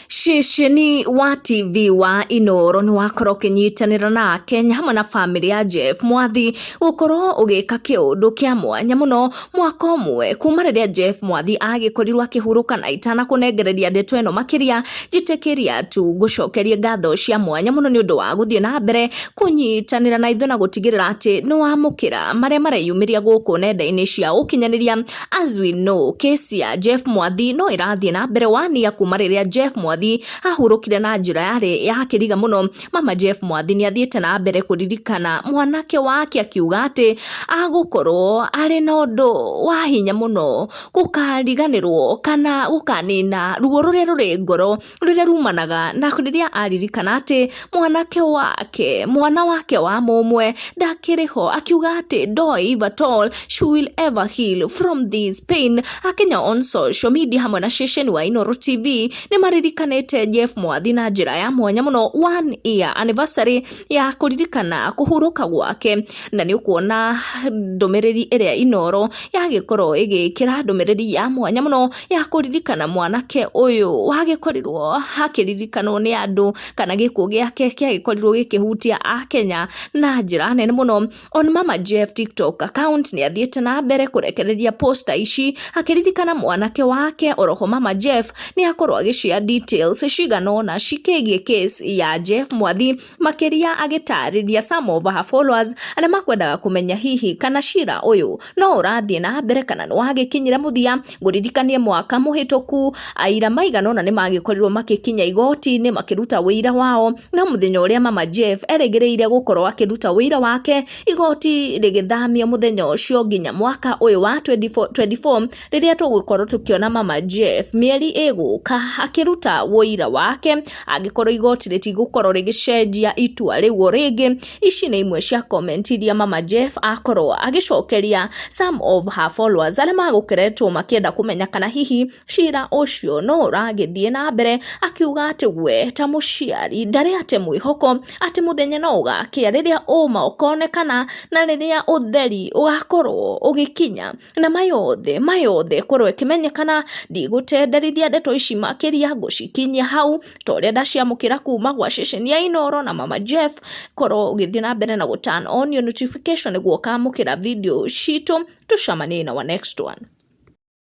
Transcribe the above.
Ceceni wa TV wa Inooro nĩ wakorwo ũkĩnyitanĩra na Akenya hamwe na bamĩrĩ ya Jeff Mwathi gũkorwo ũgĩka kĩũndũ kĩa mwanya mũno mwaka ũmwe kuma rĩrĩa Jeff Mwathi agĩkorirwo akĩhurũka na itanakũnengereria ndeto ĩno makĩria njĩtĩkĩria tu ngũcokerie ngatho cia mwanya mũno nĩ ũndũ wa gũthiĩ na mbere kũnyitanĩra na ithuĩ na gũtigĩrĩra atĩ nĩ wamũkĩra marĩa mareyumĩria gũkũ nenda-inĩ cia ũkinyanĩria As we know, case ya Jeff Mwathi no ĩrathiĩ na mbere wania kuma rĩrĩa Jeff Mwathi ahurũkire na njĩra yarĩ ya kĩriga mũno. Mama Jeff Mwathi nĩ athiĩte na mbere kũririkana mwanake wake akiuga atĩ agũkorwo arĩ na ũndũ wa hinya mũno gũkariganĩrwo kana gũkanina ruo rũrĩa rũrĩ ngoro rũrĩa rumanaga na rĩrĩa aririkana atĩ mwanake wake mwana wake wa mũmwe ndakĩrĩ ho akiuga atĩ ndoĩ if at all she will ever heal from this pain akenya on social media hamwe na ceceni wa Inooro TV nĩ maririkanĩte Jeff Mwathi na njĩra ya mwanya mũno one year anniversary ya kũririkana kũhurũka gwake na nĩ ũkuona ndũmĩrĩri ĩrĩa Inooro yagĩkorwo ĩgĩkĩra ndũmĩrĩri ya mwanya mũno ya kũririkana mwanake ũyũ wagĩkorirwo akĩririkanwo nĩ andũ kana gĩkuũ gĩake kĩagĩkorirwo gĩkĩhutia akenya na njĩra nene mũno on mama jeff tiktok account nĩ athiĩte na mbere kũrekereria posta ici akĩririkana mwanake wake oroho mama jeff nĩ akorwo agĩcia details cigana ũna cikĩgiĩ case ya jeff mwathi Makĩria agĩtarĩria some of her followers arĩa makwendaga kũmenya hihi kana cira ũyũ no ũrathiĩ na mbere kana nĩ wagĩkinyire mũthia. Ngũririkanie mwaka mũhĩtũku aira maigana ũna nĩ magĩkorirwo magĩkinya igoti-inĩ makĩruta ũira wao, no mũthenya ũrĩa mama Jeff erĩgĩrĩire gũkorwo akĩruta ũira wake, igoti rĩgĩthamio mũthenya ũcio nginya mwaka ũyũ wa 2024. rĩrĩa tũgũkorwo tũkĩona mama Jeff mĩeri ĩgũka akĩruta wũira wake angĩkorwo igoti rĩtigũkorwo rĩgĩcenjia itua rĩu o rĩngĩ ici nĩ imwe cia comment iria mama Jeff akorwo agĩcokeria some of her followers arĩa magũkeretwo makĩenda kũmenya kana hihi cira ũcio no ũragĩthiĩ na mbere akiuga atĩ we ta mũciari ndarĩ ate mwĩhoko atĩ mũthenya no ũgakĩa rĩrĩa ũma ũkonekana na rĩrĩa ũtheri ũgakorwo ũgĩkinya na maya othe, maya othe korwo ĩkĩmenyekana, ndigũtenderithia ndeto ici makĩria, ngũcikinyia hau, ta ũrĩa ndaciamũkĩra kuma gwa ceceni ya Inooro na Mama Jeff, korwo ũgĩthiĩ na mbere na gũ turn on your notification nĩguo ũkamũkĩra video citũ, tũcemanie in our next one.